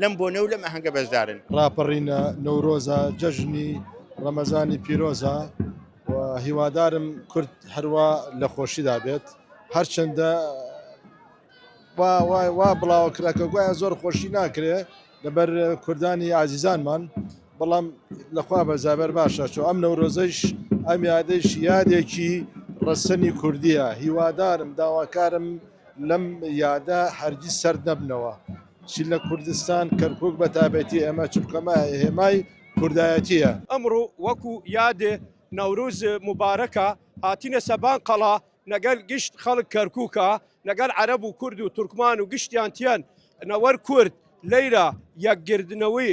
لەم بۆنە و لەم ئاهەنگە بەشدارن. ڕاپەڕینە نەورۆزە، جەژنی ڕەمەزانی پیرۆزە و هیوادارم کورد هەروا لە خۆشیدا بێت، هەرچەندە وا بڵاوە کرا کە گوایە زۆر خۆشی ناکرێ لەبەر کوردانی ئازیزانمان، بەڵام لە خوا بەزابەر باشە چۆ ئەم نەورۆزەیش ئەم یادەیش یادێکی ڕەسەنی کوردییە، هیوادارم داواکارم لەم یادە هەرگیز سەرد نەبنەوە. چ لە کوردستان کەرکوک بە تایبەتی ئێمە چونکە مە هێمای کوردایەتیە. ئەمڕۆ وەکو یاد نەوروز موبارەکە هاتینە سەبان قەڵا نەگەل گشت خەڵک کەرکوکا نەگەل عەرەب و کورد و تورکمان و گشتیان تیەن نەوەر کورد لەیرا یەک گردنەوی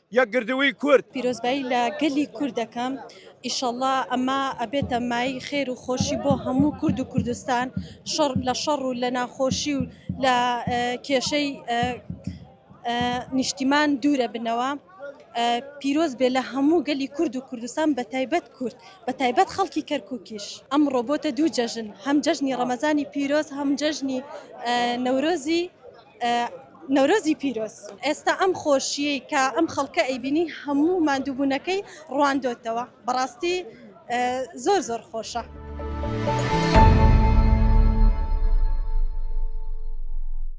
یەکگردووی کورد. پیرۆزبایی لە گەلی کورد دەکەم ئیشەڵا ئەمە ئەبێتە مای خێر و خۆشی بۆ هەموو کورد و کوردستان شەڕ لە شەڕ و لە ناخۆشی و لە کێشەی نیشتیمان دوورە بنەوە پیرۆز بێ لە هەموو گەلی کورد و کوردستان بە تایبەت کورد بە تایبەت خەڵکی کەرکووکیش ئەم ڕۆبۆتە دوو جەژن هەم جەژنی ڕەمەزانی پیرۆز هەم جەژنی نەورۆزی نەورۆزی پیرۆز. ئێستا ئەم خۆشیەی کە ئەم خەڵکە ئەیبینی هەموو ماندووبونەکەی ڕواندۆتەوە بەڕاستی زۆر زۆر خۆشە.